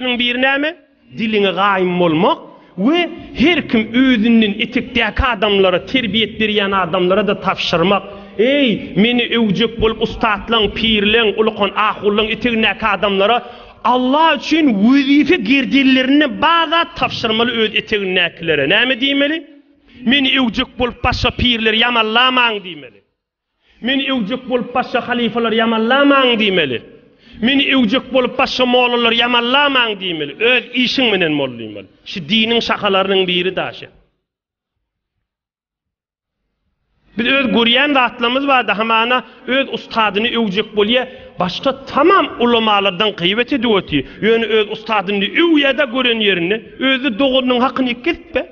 Şonuň biri näme? Diliňe gaýym bolmak we her kim özünden etekdäki adamlara, terbiýet berýän adamlara-da tabşyrmak. Eý, meni öwjek bolup ussatlaň, pirleň, ulykan ahullaň etegindäki adamlara Allah üçin wezipe gerdenlerinde bar zat tabşyrmaly öz etegindäkilere. Näme diýmeli? Meni öwjek bolup başga pirleri ýamallamaň diýmeli. Meni öwjek bolup başga halypalary ýamanlamaň diýmeli. Meni öwjek bolup başga mollalary ýamanlamaň diýmeli. Öz işiň menen mollym bol. Şu diniň şahalarynyň biri daşy. Biz öz görýän zatlarymyz barda hamana öz ustadyny öwjek bolýa, başga tamam ulamalardan gyýbat edip otyr. Ýöne öz ustadyny öwýada gören ýerinde, özde doganynyň hakyny kesip be.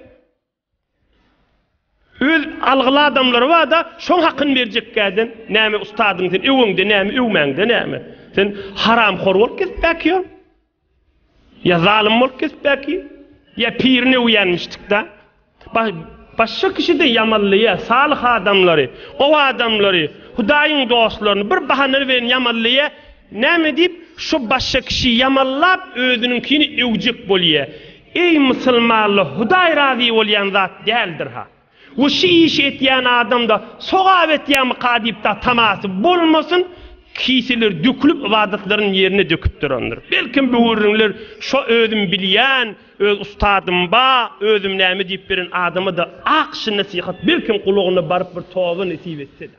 Öz algyly adamlary barda şoň hakyny berjekkäden näme ustadyň sen öweňde näme öwmäňde näme sen haramhor bolup gezip bäkiýoň ýa zalym bolup gezip bäki ýa pirini öwýänmişdikda başga kişide ýamanlaýa salyh adamlary gowy adamlary hudaýyň dostlaryny bir bahana bilen ýamanlaýa näme diýip şo başga kişi ýamanlap özüniňkini öwjek bolýa Eý musulmanlar Hudaý razy bolýan zat däldirha. We şu işi etýän adamda sogap etýämika diýip da tamasy bolmasyn, kiseler dökülip ybadatlaryny ýerine döküp durandyr. Belkim bu gürrüňler şo özüm bilýän, öz ustadym ba, özüm näme diýip beren adamada ak şy nesihat belkim gulagyna baryp bir toba nesip etseda.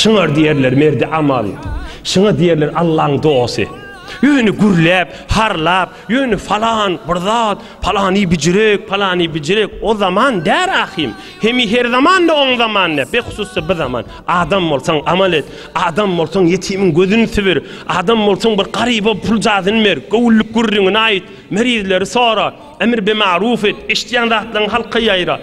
Şuňa diýerler merdi amal. Şuňa diýerler Allaň dosty. Ýöne gürläp, harlap, ýöne falan bir zat, palany bijirek, palany bijirek, o zaman däl ahym. Hemi her zamanda oň zamany, behususda bi zaman. Adam bolsaň amal et, adam bolsaň ýetimiň gözüni sübür, adam bolsaň bir garyba pul jazyny ber, göwünlik gürrüňini aýt, merizleri sora, emr be maruf et, eşidýän zatlaryňy halka ýaýrat.